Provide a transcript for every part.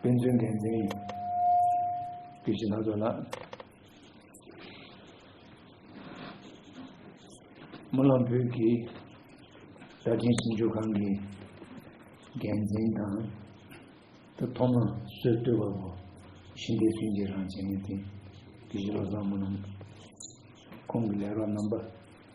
དཔེ་མཚོན་འགན་འཛིན་ཡིན། དེ་བཞིན་ལྷ་ཚོགས་ལ། རྨི་ལམ་བོད་ཀྱི་རྭ་སྒྲེང་ཞིབ་འཇུག་ཁང་གི་འགན་འཛིན་དང། དེ་ཐོག་མ་སྲོལ་བཏོད་པ་པོ་ཤིང་རྟའི་ཚུལ་གྱི་རང་བྱེད་ངེས་ཏེ། དེ་བཞིན་བློ་བཟང་རྨི་ལམ། ཁོང་གི་ལས་རོགས་རྣམ་པ།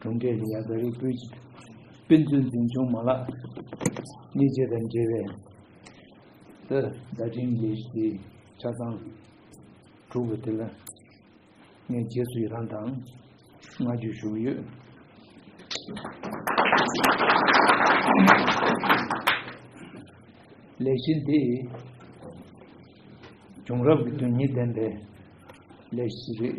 གྲོང་ཁྱེར་གྱི་ཡ་ག་རིགས་པོའི་དཔེ་མཛོད་འཛིན་སྐྱོང་མ་ལག་གཉིས་བཅས་དང་འབྲེལ་བའི་ཏི་ཟླ་འཕྲིན་ལས་གཞིའི་ཆ་ཚང་དྲུག་པ་དེ་ལ་ངས་རྗེས་སུ་ཡི་རང་དང་བསྔགས་བརྗོད་ཞུ་གི་ཡོད། ལས་གཞི་འདི་བྱུང་རབས་ཀྱི་དོན་སྙིང་ལྡན་པའི་ལས་གཞི་ཞིག་རེད།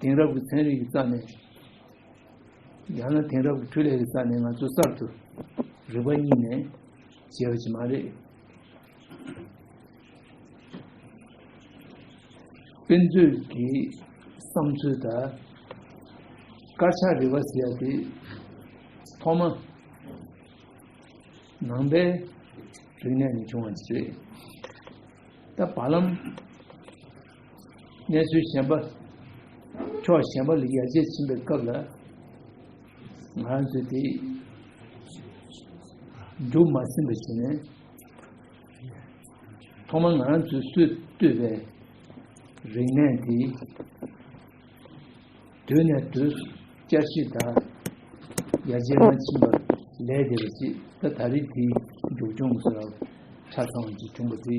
དེང་རབས་ཀྱི་ཚན་རིག་གི་རྩ་ནས་ཡང་ན་དེང་རབས་ཀྱི་འཕྲུལ་ལས་ཀྱི་རྩ་ནས་ང་ཚོ་གསར་དུ་རིག་པ་གཉིས་ནས་བྱས་པ་ཅིག་མ་རེད། དཔེ་མཛོད་ཀྱི་བསམ་ཚུལ་དང་དཀར་ཆག་རིག་པ་ཟེར་བ་དེ་ཐོག་མ་ནང་པའི་རིག་གནས་ནས་བྱུང་བ་ཞིག་རེད། ད་བར་ལམ་གནས་ཚུལ་གཞན་པ། ཕྱོགས་གཞན་པ་ལ་ཡར་རྒྱས་ཕྱིན་པའི་སྐབས་ལ། ང་རང་ཚོས་དེ། འགྲུབ་མ་ཟིན་པ་ཞིག་ནས། ཐོག་མར་ང་རང་ཚོས་སུས་བཏུས་པའི་རིག་གནས་དེ། དུས་ནས་དུས་སུ་བསྐྱར་ཞིབ་དང་ཡར་རྒྱས་མ་ཕྱིན་པར་ལས་དེ་བས་ཅི་ད་ད་རེས་དེའི་མཇུག་སྐྱོང་གི་སྐབས་ཆ་ཚང་བ་ཞིག་བྱུང་བ་དེ།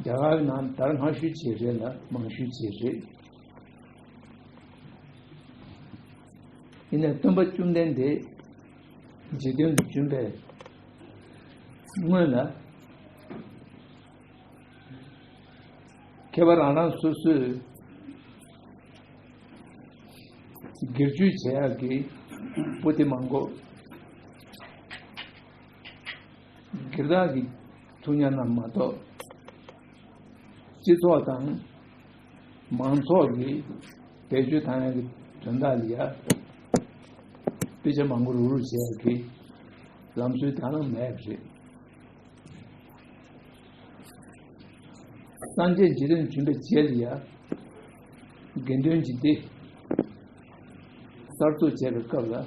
རྒྱ་གར་ནང་དར་སྔ་ཤོས་བྱེད་རེད་ལ་མང་ཤོས་བྱེད་རེད། ཡིན་ནས་སྟོན་པ་བཅོམ་ལྡན་འདས་རྗེས་དོན་དུ་བྱོན་པའི་སྔོན་ལ་ཁྱད་པར་རང་རང་སོ་སོའི་སྒེར་གཅོད་བྱས་ཡག་གི་པོ་ཏི་མང་གོ། དགེ་རྩ་གི་ཐུགས་གཉེར་རྣམས་མ་གཏོགས། སྤྱི་ཚོགས་དང་མང་ཚོགས་ཀྱི་བེད་སྤྱོད་དང་ཡང་གི་དོན་དག་ལ་དཔེ་ཆ་མང་པོ་རུག་རུག་བྱས་ཀྱི་ལམ་སྲོལ་དག་ན་མེད་པ་རེད། སངས་རྒྱས་རྗེ་རིན་བྱོན་པའི་རྗེས་ལ་ཡང་དགེ་འདུན་གྱི་སྡེ་གསར་བཙུགས་བྱས་པའི་སྐབས་ལ།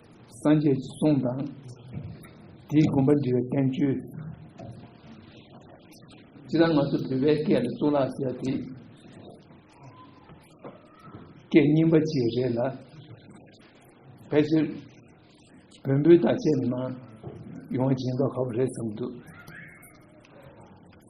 སངས་རྒྱས་ཀྱི་གསུང་དང། དེའི་དགོངས་པ་འདྲི་བའི་བསྟན་བཅོས། ཅི་ལ་ང་ཚོ་བོད་པའི་སྐད་ལ་གཙུག་ལག་ཟེར་ཏེ། སྐད་རྙིང་པ་ཅིག་རེད་ལ། ཕལ་ཆེར་བོན་པོའི་དག་ཆའི་ནང་ཡོང་བ་ཇི་འདྲ་ཁག་པོ་རེད་བསམ་འདུག།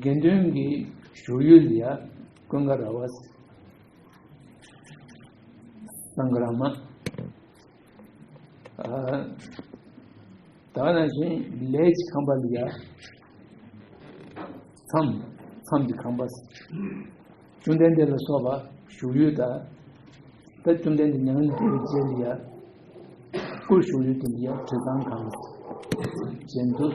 དགེ་འདུན་གྱི་བཞུགས་ཡུལ་ལ་ཀུན་དགའ་ར་བ་སངྒ་ར་མ་ད་ན་བཞིན་ལས་ཀྱི་ཁང་པ་ལ་ཡ་མཚམས་མཚམས་ཀྱི་ཁང་པ་བཅུ་ལྡན་དེ་ལ་སོགས་པ་བཞུགས་ཡུལ་དང་ད་བཅུ་ལྡན་དེ་ཉང་དེ་རྗེས་ལ་ཡ་སྐུ་བཞུགས་ཡུལ་དེ་ལ་ཡ་དྲི་བཟང་ཁང་བཞེངས་འདུག་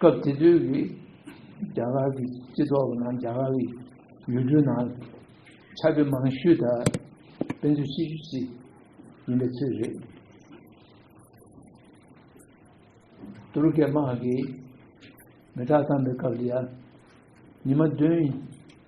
སྐབས་དེ་དུས་ཀྱི་རྒྱ་གར་གྱི་སྤྱི་ཚོགས་ནང་རྒྱ་གར་གྱི་ཡུལ་གྲུ་ནང་ཆ་བོད་མང་ཤོས་དག་དཔེ་མཛོད་ཤེས་རྒྱུ་ཞིག་ཡིན་པའི་ཚོད་རེད། ཏུ་རུ་ཀའི་དམག་གིས་མེ་སྟག་བཏང་པའི་སྐབས་ལ་ཡང་ཉི་མ་བདུན་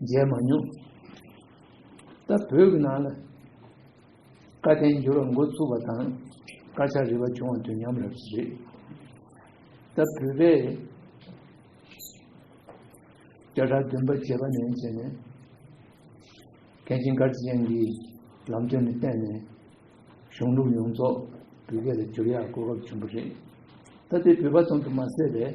མཇལ་མ་མྱོང། ད་བོད་ཀྱི་ནང་ལ་བཀའ་བསྟན་འགྱུར་བ་འགོ་བཙུགས་པ་དང་དཀར་ཆག་རིག་པ་བྱུང་བ་དུས་མཉམ་རེད། ད་བོད་པས་བརྒྱ་ཕྲག་བདུན་པ་བྱེད་པ་ནས་བྱས་ནས་མཁན་ཆེན་དཀར་རྩེ་ཡན་གྱིས་ལམ་སྟོན་ནས་བསྟན་ནས་གཞུང་ལུགས་ཡོངས་རྫོགས་བོད་སྐད་ལ་བསྒྱུར་ཡག་གོ་སྐབས་བྱུང་བ་རེད། ད་དེ་བོད་པ་ཙམ་དུ་མ་ཟད་པས།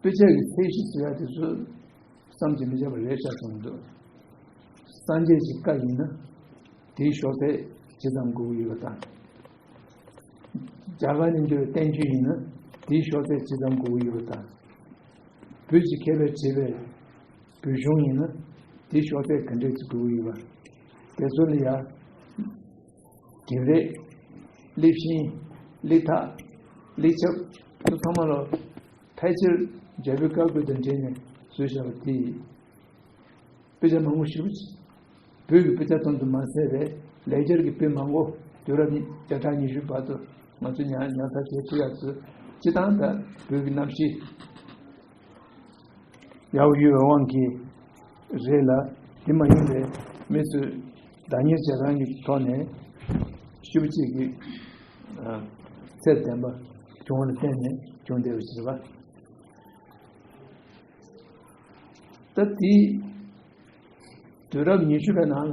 དཔེ་ཆ་གི་ཚད་གཞི་ཟེར་བ་དེ་ཚོ་བསམ་གྱིས་མི་ཁྱབ་པ་རེད་ཤག་བྱུང་འདུག་སངས་རྒྱས་ཀྱི་བཀའ་ཡིན་ན་དེའི་ཤོག་ཚད་ཇི་ཙམ་དགོས་ཀྱི་ཡོད་པ་དང། རྒྱ་གར་ནས་འབྱོར་བའི་བསྟན་བཅོས་ཡིན་ན་དེའི་ཤོག་ཚད་ཇི་ཙམ་དགོས་ཀྱི་ཡོད་པ་དང། བོད་ཀྱི་མཁས་པས་བྲིས་པའི་བོད་གཞུང་ཡིན་ན་དེའི་ཤོག་ཚད་ག་འདྲས་ཀྱི་དགོས་ཀྱི་ཡོད་པ། དེ་ཚོ་ལ་ཡང། དགེ་ལེགས། སླེབས་ཤིང། སླེ་ཐག། སླེ་ཆབ། སོགས་ཐ་མ་ལ། ཕལ་ཆེར། རྒྱལ་པོའི་བཀའ་བཀོད་དང་འབྲེལ་ནས་བཟོས་བྱ་བ་སྟེ། དཔེ་ཆ་མང་པོ་ཞིག་ཡོད། བོད་ཀྱི་དཔེ་ཆ་ཙམ་དུ་མ་ཟད་པའི་ལེགས་སྦྱར་གྱི་དཔེ་མང་པོ་དུས་རབས་བརྒྱ་ཕྲག་ཉི་ཤུའི་བར་དུ་ང་ཚོས་ཉར་ཚགས་བྱས་ཚུལ་ཡག་སྲོལ་སྤྱི་དང་དང་བོད་ཀྱི་གནམ་གཤིས། ཡང་ཡུལ་བའི་དབང་གིས་རེད་ལ་དེ་མ་ཡིན་པའི་མི་ཚོས་བདག་གཉེར་བྱེད་རང་གི་ཐོག་ནས་ཤུགས་གཅིག་གིས་ཚད་ལྡན་པ་བྱུང་བ་ལ་བརྟེན་ནས་བྱུང་བསྡད་པ་ཞིག་རེད་པ། ད་དེའི་དུས་རབས་ཉི་ཤུ་པའི་ནང་ལ།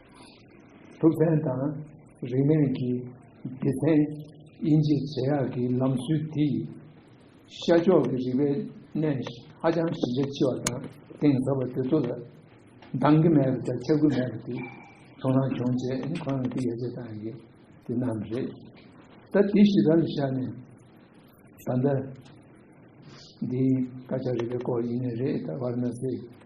ཐུབ་བསྟན་དང་རིག་གནས་ཀྱི་སྡེ་ཚན་དབྱེ་འབྱེད་བྱེད་ཡག་གི་ལམ་སྲོལ་དེ་ཡིས་ཤར་ཕྱོགས་ཀྱི་རིག་པའི་གནས་ཧ་ཅང་གཞི་རྒྱ་ཆེ་བ་དང་གཏིང་ཟབ་པ་དེ་ཚོ་ལ་འདང་གི་མེད་པ་དང་ཆ་རྒྱུས་མེད་པ་དེ་ཚོ་རང་བྱུང་རྗེས་ཁོ་རང་གིས་ཡར་རྒྱས་བཏང་ཡོད་དེ་རྣམས་རེད། ད་དེ་ཞིག་ར་ལ་བཞག་ནས་ད་ལྟ་འདིའི་སྐད་ཆ་རིག་པའི་སྐོར་ཡིན་ནི་རེད་ད་བར་མ་ཟད།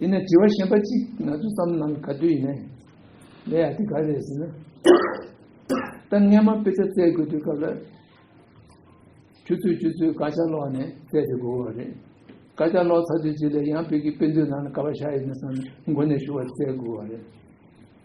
ཡིན་ན་དྲི་བ་གཞན་པ་གཅིག་ང་ཚོ་བསམ་ན་ག་དུས་ཡིན་ན་ཡིན། ལས་ཡག་འདི་ག་རེད་ཟེར་ན། ད་སྔས་མ་དཔེ་ཆ་བཙལ་དགོས་དུས་སྐབས་ལ། ཆུ་ཚོད་བཅུ་ཚོད་དགའ་ཆ་ལོག་ནས་བཙལ་དེ་དགོས་བ་རེད། དགའ་ཆ་ལོག་ཚར་དུས་རྗེས་ལས་ཡང་བོད་ཀྱི་དཔེ་མཛོད་ནང་ལ་ག་བ་བཞག་ཡོད་ན་བསམ་ནས་མགོ་ནས་ཞུ་བ་བཙལ་དགོས་བ་རེད།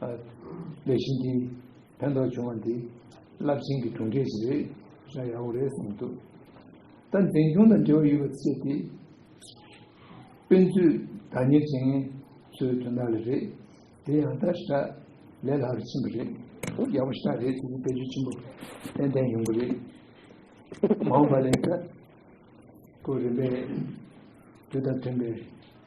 ལས་གཞི་འདིས་ཕན་ཐོགས་བྱུང་བ་འདི་རླབས་ཆེན་གྱི་གྲུབ་འབྲས་ཞིག་རེད་བཞག་ཡག་པོ་རེད་གསུངས་འདུག་ད་འཛིན་སྐྱོང་དང་འབྲེལ་བ་ཡོད་པ་བཅས་ཏེ་དཔེ་མཛོད་བདག་གཉེར་ཅན་ཚོའི་དོན་དག་ལ་རེད་དེ་ཡང་ད་ཧྲ་ལས་ལྷག་རུ་ཕྱིན་པ་རེད་ཡག་པོ་ཤ་རེད་ཚོད་འཛིན་དཔེ་མཛོད་ཆེན་པོ་ཏན་ཏན་ཡོང་གི་རེད་མ་འོངས་པ་ལས་ཀ་ཀོ་རིམ་པས་དུས་དང་མཐུན་པའི།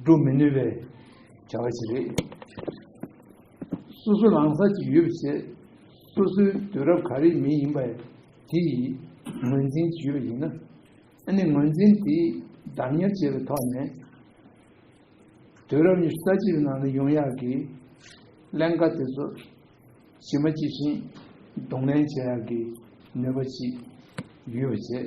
སྒྲུབ་མི་ནུས་པའི་བྱ་བ་ཞིག་རེད། སོ་སོ་ལངས་ས་ཅིག་ཡོད་པ་བྱས། སོ་སོའི་དུས་རབས་ག་རེའི་མི་ཡིན་པ་དེ་ཡི་ངོས་འཛིན་ཅིག་ཡོད་པ་ཡིན་ན། ཨ་ནི་ངོས་འཛིན་དེ་བདག་གཉེར་བྱས་པའི་ཐོག་ནས། དུས་རབས་ཉི་ཤུ་རྩ་གཅིག་པའི་ནང་ན་ཡོང་ཡག་གི་ཀླན་ཀ་དེ་ཚོ་ཇི་མ་ཇི་བཞིན་གདོང་ལེན་བྱ་ཡག་གི་ནུས་པ་ཅིག་ཡོད་པ་བྱས།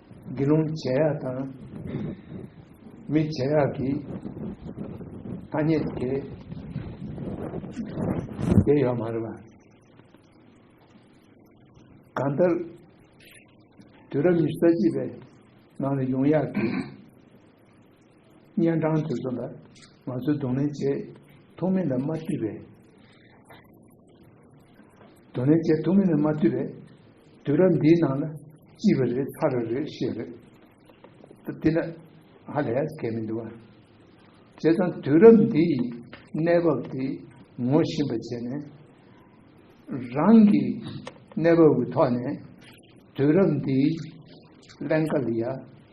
དགེ་སློང་བྱེ་བྲག་དང། མི་བྱེ་བྲག་གི་ཐ་སྙད་དུ་བྱེད། དེ་ཡོད་མ་རེད་པ། གང་ལྟར་དུས་རབས་ཉི་ཤུ་རྩ་གཅིག་པའི་ནང་ལ་ཡོང་ཡག་གི། གཉན་འཕྲང་དེ་ཚོ་ལ་ང་ཚོས་གདོང་ལེན་བྱེད་ཐུབ་མིན་ལ་མ་ལྟོས་པའི། གདོང་ལེན་བྱེད་ཐུབ་མིན་ལ་མ་ལྟོས་པའི། དུས་རབས་འདིའི་ནང་ལ་ཅི་བ་རེད་ཚར་རེ་རེད་ཤེས་རེད། ད་དེ་ལ་ཧ་ལས་གལ་མི་འདུག་ཨ། བྱས་ཙང་དུས་རབས་འདི་ཡི་གནས་བབ་དེ་ངོ་ཤེས་པ་བྱས་ནས། རང་གི་གནས་བབ་ཀྱི་ཐོག་ནས་དུས་རབས་འདིའི་ཀླན་ཀ་ལ་ཡ་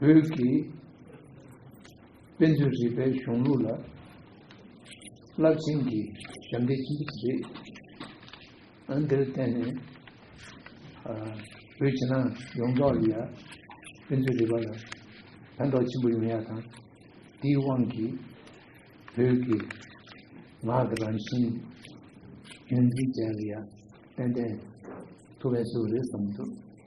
བོད་ཀྱི་དཔེ་མཛོད་རིག་པའི་གཞུང་ལུགས་ལ་རླབས་ཆེན་གྱི་ཞབས་འདེགས་ཅི་མཆིས་རེད། ཨང་དེར་བརྟེན་ནས་བོད་ཕྱི་ནང་ཡོངས་རྫོགས་ལ་དཔེ་མཛོད་རིག་པ་ལ་ཕན་ཐོགས་ཆེན་པོ་ཡོང་ཡག་དང་དེའི་དབང་གིས་བོད་ཀྱི་ངག་གི་རང་བཞིན་རྒྱུན་འཛིན་བྱས་ཡག་ཏན་ཏན་ཐུབ་བས་སུ་རེད་བསམ་འདུག།